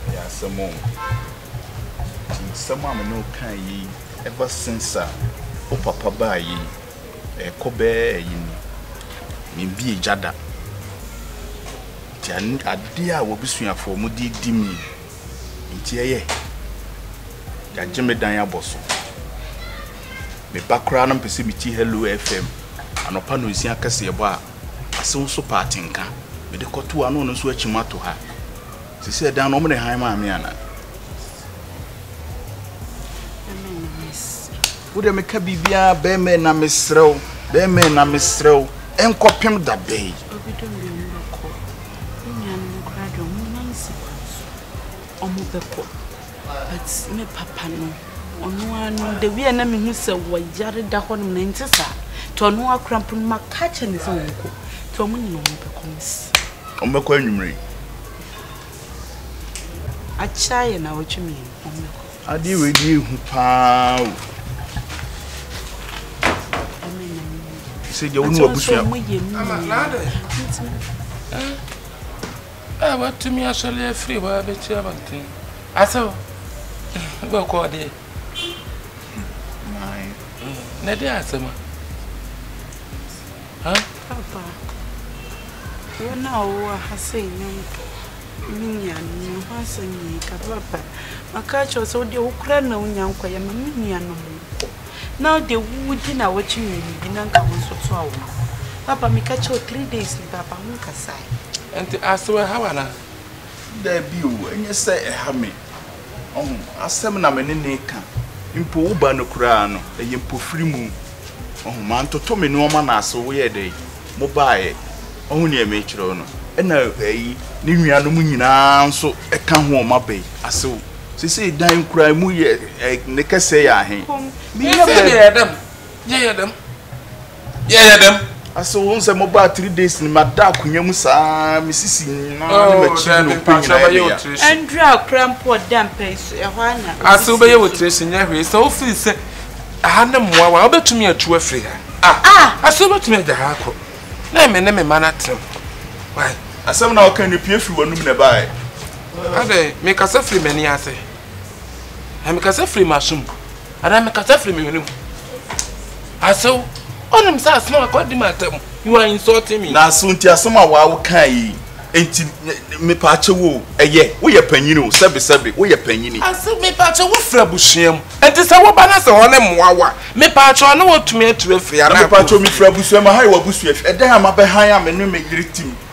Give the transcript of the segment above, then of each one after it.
Ɛyɛ asɛm o. Nti nsɛm a me ne wo kae yi, ever since a wo papa baa yi, ɛrekɔ bɛyɛ ayi ni, membue gya da. Nti adeɛ a w'abusuafoɔ wɔde redi me yi, Nti ɛyɛ yagye me dan abɔ so. Me ba koraa no mpɛ sɛ metie Hello FM anɔpa nonsia kɛseɛbɔ a ase woso pa atenka mede kɔto a na ɔno nso akyim ato ha. Sisi ɛdan no ɔmo ne han maa me anaa? Wode meka biribiara bɛrima na mesrɛ wo bɛrima na mesrɛ wo nkɔpem da bɛn. Me nuanom no koraa deɛ ɔmo nan si kwan so ɔmo bɛkɔ but me papa no ɔno ara no the way a na mehu sɛ wɔyare da hɔ nom na ɛnte saa nti ɔno ara koraa mpo no maka akyerɛ ne sɛ ɔnkɔ nti ɔmo nyina ɔmo bɛkɔ mesi ɔmo bɛkɔ anwummere akyerɛ ayɛ na ɔtwe mmienu ɔmo bɛkɔ Adeɛ wei deɛ ehu paa o. Sɛ deɛ wone wabusua. A watumi asɔre afiri hɔ abɛti abɔnten asɛw bɛkɔɔ deɛ na ɛde asɛm a Huh? Papa, wɔn a wɔwɔ ha sɛ nyɔnko ne nuanom no ho asɛm na yɛreka. Papa, maka akyerɛ wo sɛ wodeɛ wo koraa na wonya nkɔyɛ ma me nuanom nkɔ. Na wodeɛ wodi na wɔkye mmienu bi na nka wo nso toa wɔn. Papa, meka kyerɛ wo three days ni papa, wonkasae. Ɛnti asew ɛha wo anaa? Dabi o, ɛnyɛ sɛ ɛha me. Ɔho asɛm na me ne no reka. Mpo wo ba no koraa no, ɛyɛ mpofirimu. Ɔho, mantoto me nnoɔma na ase woyɛɛ dɛn? Mo baeɛ. Ɔho deɛ merekyerɛ wo no. Ɛna ɛyi, ne nuanom nyinaa nso ka ho wɔn aba yi. Ase wo. Sesei dan koraa emu yɛ, ne kɛsɛɛ yɛ ahe. Meyɛ baabi. yɛyɛ dɛm. Ase wo nsɛ mo baa three days ni ma da akonya mu saa me sisi nyina ne ma kyi na ope nyina yɛ me ya. Andrew akora mpo ɔda mpa yi so ɛhɔ a na. Ase wo bɛyɛ wo tiri so nyɛ hwee sɛ wo feel sɛ aha ne mmoa wa wo bɛtumi atu afiri ha ah ase wo bɛtumi agya ha akɔ na ɛmɛ ne me ma no atena mu why. Asɛm na ɔka ne pie firi w'anum na ɛbaeɛ. Adɛn mekasa firi m'ani ase. Na mekasa firi m'aso mu anaa mekasa firi me hwene mu. Asew, wonim sɛ asɛm a kɔdi m'atam, you are insulting me. Na asew nti asɛm a waa wokaa yi nti mepaakyɛ wo ɛyɛ woyɛ panyini o sɛbe sɛbe woyɛ panyini. Asew mepaakyɛ wo firi abusua mu nti sɛ woba na sɛ wɔne mmoa wo a mepaakyɛ ɔne wotumi atu afiri anaa kɔ fie. Na mepaakyɛ mefiri abusua mu aha yɛ w'abusua fie ɛdɛn a mabɛhan a me ne me yere tim.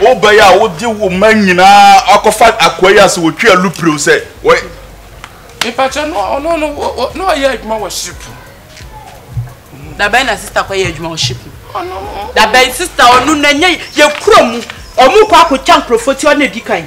wobɛyɛ a wode wo ma nyinaa akɔfa akoa yi ase wɔtwe alu pirew sɛ mepakyɛ no ɔno no na ɔyɛ adwuma wɔ ship dabɛn na sista kɔyɛ adwuma wɔ ship dabɛn sista ɔno na nyɛ yɛkura mu ɔmo kɔ akɔtwa nkurɔfoɔ ti ɔno na ɛdi kan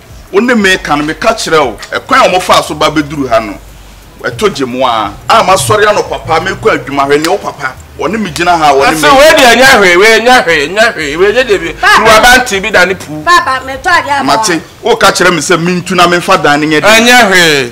Wo ne me ka no, meka kyerɛ wo, ɛkwan a wɔfaa so ba bɛduru ha no, ɛto gye mo ara. A Masɔre anɔpa pa, merekɔ adwuma, hwɛ nea wo papa, wɔne me gyina ha a, wɔne me. Ɔse, wei deɛ nyɛ hwee, wei nyɛ hwee, nyɛ hwee, wei nyɛ deɛ bi, kuruwa bɛntee bi da ne puu. Papa, metɔ adeɛ ama wo. Mate, woreka kyerɛ me sɛ mentu na memfa dan no nyɛ deɛ. Ɛnyɛ hwee.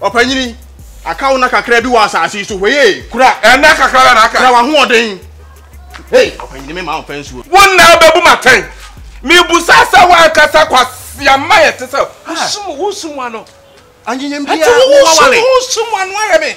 Ɔpanyin, aka wo nna kakra bi wɔ asase yi so. Hwɛ yie. Kura. Ɛnna kakra bɛ na aka. Kura w'ahoɔden. Hey, ɔpanyin mi maa ɔpɛ nsuo. Wo nna bɛbu ma tɛn. Mibusa sɛ w'ankasa kwasiama yɛ te sɛ. Wosum wosum ano. Anyinyem bi a wowɔ wale. Ɛti wosum wosum ano ayɛ me.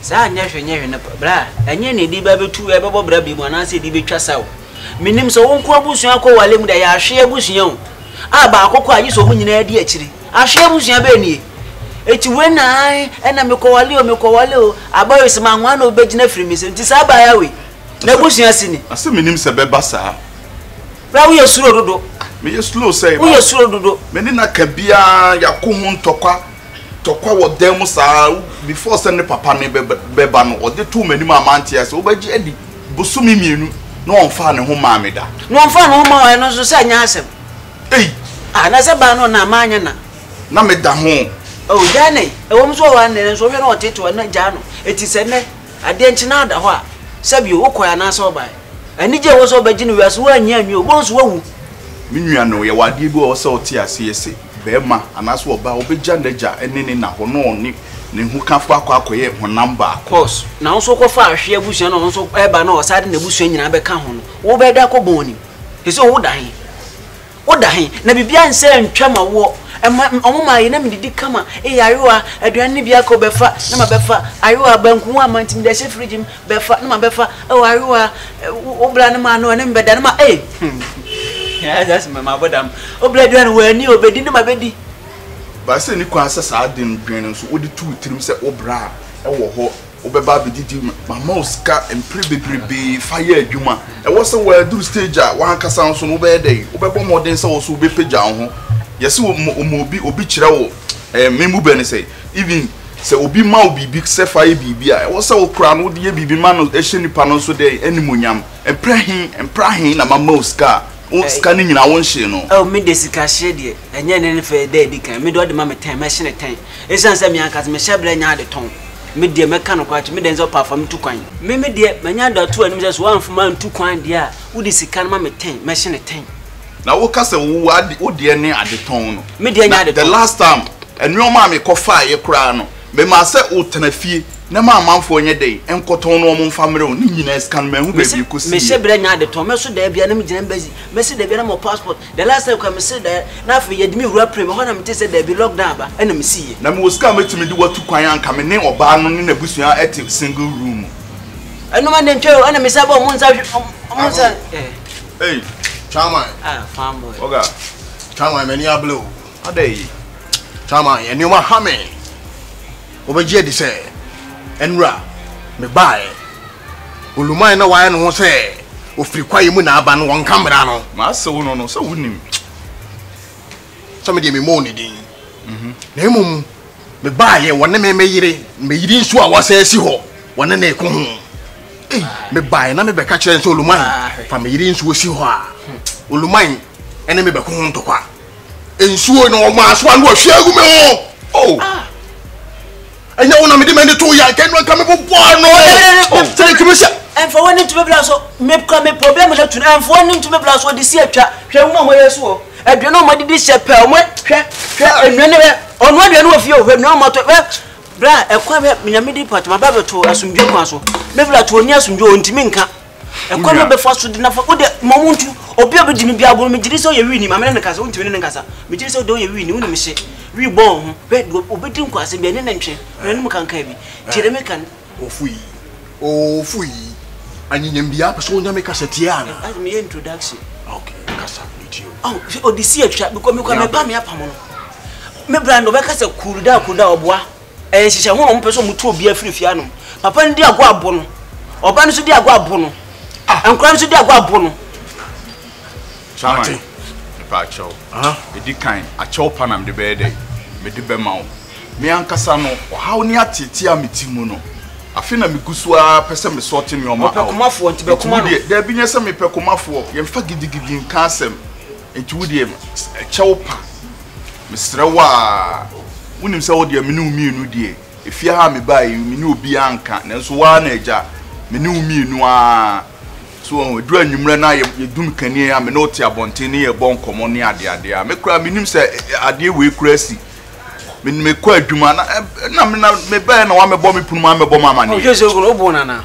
Saa nyɛ hwee nyɛ hwee no bra a, ɛnyɛ nea ɛde bɛtu ɛbɛbɔ bra bem anaasɛ ɛde bɛtwa sa o. Menim sɛ wo nko abusua akɔ wale mu dɛ, yɛ ahwee abusua o. A baako kɔ a gye sɛ wɔn nyinaa di akyire. Ahwee abusua bɛn nie? Ɛti wei na ae ɛna mekɔ wale o, mekɔ wale o. Aba wei sɛ ma nwa na obi bɛgyina afiri me nsam. Nti saa aba ya wei? N'abusua si ni? Asɛ menim sɛ bɛba saa. Bra wo yɛ suro dodo. Meyɛ slow sɛe ba. Wo yɛ suro dodo. Mene no aka biaa yako ho ntɔkwa Tɔkwa wɔ dan mu saa ara, before sɛ ne papa no bɛba no, ɔde too m'anim a mante ase. Wobɛgye adi, bosome mmienu na ɔmfaa ne ho mmaa me da. Na ɔmfaa ne ho mmaa wo, ɛno nso sɛ ɛnyɛ asɛm. Ei! Ah, na sɛ baa no na manyɛ na. Na meda ho. Oh, gyaa no ei. Ɛwom sɛ ɔwɔ ha nnɛ, nanso wohwɛ na ɔteetew a, na gyaa no. Enti sɛ nnɛ, adeɛ nkye na ada hɔ a, sɛbio, wokɔe anaasɛ wobae? Anigye a ɛwɔ sɛ wobɛgye no wiase, woannye anwie o, wobɛhu sɛ woawu. Me nua no, yɛwɔ adeɛ bi a ɛwɔ sɛ wote aseɛ se. Barima anaasɛ ɔbaa, ɔbɛgya n'agya ne ne na hɔ na ɔne ne ho kafo akɔ akɔyɛ honam baako. Cos na wo nso wokɔ fa ahwe abusua na ɔno nso ɛba na ɔsa de n'abusua nyinaa bɛka ho no, wo bɛ da kɔ bɔn nim. Ɛsɛ wo da he? Wo da he? Na bibia nsɛ ntwa ma woɔ. Ɛma ɔmo ma ayɛ na me didi kama. Ee ayewa, aduane no bi aka o bɛfa na ma bɛfa. Ayewa, banku ho ama nti me de ahyɛ fridge mu. bɛfa ne ma bɛfa oh ayewa wo bra ne ma no ne mbɛda ne ma eh hmm ayɛ sɛ mɛ ma bɔdam wo bra aduane wɔ ani o bɛdi ne ma bɛdi ba sɛ ni kwan sɛ saa de no dwen no nso wode to wo tirim sɛ wo bra wɔ hɔ wobɛba abɛdidi mama wo sika mpere bebrebe fa yɛ adwuma ɛwɔ sɛ wɔaduru stage a wankasa nso no wobɛyɛ dɛ wobɛbɔ mmɔden sɛ wɔ so wobɛpagya wo ho yɛse wɔma obi obi kyerɛ wo eh, me mu bɛ ne sɛ even Sɛ obi ma wo biribi sɛ fa yɛ biribi a, ɛwɔ sɛ wo koraa no wode yɛ biribi ma no hyɛ nipa no nso dɛn? Animuonyam. Mprɛ he, mprɛ ahe na mama wo sika a, wo sika no nyinaa wonhyee no? Oh, me deɛ sika hye deɛ, ɛnyɛ nne ne fɛ da a ɛdi kan. Me deɛ ɔde ma me tɛn, mɛhye ne tɛn. Ɛsiane sɛ me ankasa me hyɛbrɛ nyɛ ade tɔn. Me deɛ, mɛka nokorɛ akyerɛ, me deɛ ɛnsɛ ɔpa fa me tu kwan. Me, me deɛ, manya da to anim sɛ sɛ woamfa m'antu kwan deɛ a, wode sika no ma me tɛn, mɛhye ne tɛn. Na wo ka sɛ wo ade wo deɛ ne adetɔn no. Me deɛ nyɛ adetɔn. Na the last time nneɛma a me kɔ faa yɛ koraa no me maa sɛ wo tena fie na ma amanfoɔ nyɛ dɛn nkɔtɔn no wɔn nfa mmerɛ wo ne nyinaa sika no manhu baabi ɛkɔ sii yɛ. Me se brɛ nyɛ adetɔn me so daabi a na me gyina embassy me se daabi a na mewɔ passport the last time koraa me se da na afei yɛde me wura pray me hɔ na me te sɛ daabi lock down aba ɛna me sii yɛ. Na mewɔ sika a mɛtumi de wo atu kwan a nka me ne ɔbaa no ne n'abusua te single room mu. Ɛnom a na ɛntwa o ɛna me san bɔ ɔmo nsa hwɛ ɔmo nsa eh. Ei, Chairman. Ah, fine boy. Oga, Chairman, m'ani abere o. Ada yi. Chairman, nneɛma ha me. Wobɛgye adi sɛ, ɛnura, mebaeɛ. Oluman na wayɛ ne ho sɛ ofiri kwaeɛ mu na aba no, wɔnka mmara no. Maase wo no no, sɛ wonim. sɛ medeɛ memmɔɔ ne din na mmom mebaeɛ wɔne me meyere meyiri nso a wɔasɛ asi hɔ wɔne ne ko ho mebaeɛ na mebɛka kyerɛ n sɛ oluman fa meyere nsuo si hɔ a oluman ɛne mebɛko ho ntɔkwa nsuo na ɔmaa so ano ahwie agu me ho oh. ɛnyɛ wo na mede m'ani to yɛ anka ɛno anka mebobɔ ano sɛ metumi sɛ ɛmfa w'ani nto me bra so mekura me problem no to no ɛmfa w'ani nto me bra so ɔde si atwa hwɛ nwoma a wɔyɛ so wɔ aduane a wɔdidi hyɛ pɛ wɔn hwɛ hwɛ nnuane hwɛ ɔno aduane wɔ fie o hwɛ nnuane wɔtɔ hwɛ bra ɛkwan hwɛ nyame di pɔtɔ ma ba bɛto asomdwe kwan so me bra to ɔni asomdwe ɔntumi nka ɛkwan na ɔbɛfa so de nafa wode ma ɔmo ntu obi a ɔbɛgye me bi agoro megye di sɛ ɔyɛ wini maame ne ne kasa wontumi ne ne nkasa megye di sɛ wode ɔyɛ wini wonim hye wi bɔ wo ho bɛ de ɔbɛdi nkwasɛm bi ɛne ne ntwe na ne mu kankan bi nti de meka ofu yi ofu yi anyinyam biara pɛ sɛ wonya me kasa tie ana ade meyɛ introduction okay kasa metie o ɔde si atwa bikɔ mekɔ mɛpa me apamo no me brando bɛka sɛ kuruda kuruda ɔboa Ɛyɛ nhyehyɛ ho na wɔn pɛ sɛ wɔn tu obi afiri fie anom. Papa no di agorɔ abo no, ɔba no nso di agorɔ abo no, ah. nkora no nso di agorɔ abo no. Chairman, mepɛ akyɛw. Ɛdi kan, akyɛw pa na mede bɛyɛ dɛ, mede bɛma wo. Me ankasa no, ɔhaw ne ateetee a me ti mu no, afe na megu so ara pɛ sɛ mesɔɔte nneɛma awo. Ɔpɛ komafoɔ nti bɛkoma no. Nti wo deɛ, daabi nyɛ sɛ mepɛ komafoɔ, yɛmfa gidigidi nka asɛm. Enti wo deɛ ɛkyɛ wo pa mesrɛ wo a wonim sɛ wo deɛ me ne wo mmienu deɛ efie ha a mebaeɛ yi me ne obiara nka nanso wo ara na agya me ne wo mmienu ara so wɔn aduru anwummerɛ na yɛdum kaneɛ a me ne wo te abɔnten ne yɛbɔ nkɔmmɔ ne adeadeɛ a me koraa menim sɛ adeɛ wei koraa si me mekɔ adwuma na na mebaeɛ na wamɛbɔ me punu ma amɛbɔ ma amaneɛ. ɔhwɛ sɛ ogun obu nana.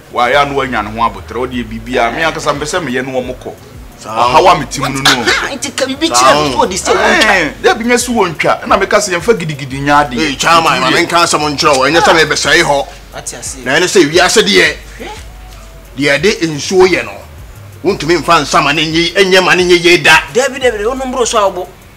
Wayɛ a na wanya ne ho aboterɛ. Wo deɛ biribiara me ankasa mpɛ sɛ meyɛ ne wɔn kɔ. Ɔhaw a mete mu no no. Ah, nti ka biribi kyerɛ no so ɔde sɛ wɔntwa. Eh, dɛ bi nyɛ so wɔntwa. Ɛna meka sɛ yɛmfa gidigidi nyɛ adeɛ. Ee, Chairman, ma menka asɛm nkyerɛ wo. Ɛnyɛ sɛ mebɛsɛe hɔ. Na ɛne sɛ wiase deɛ, deɛ ɛde nsuo yɛ no, wontumi mfa nsa ma no nyɛ ma no nyɛ yie da. Dabi, dabi, dabi, wonom boro so a wobo.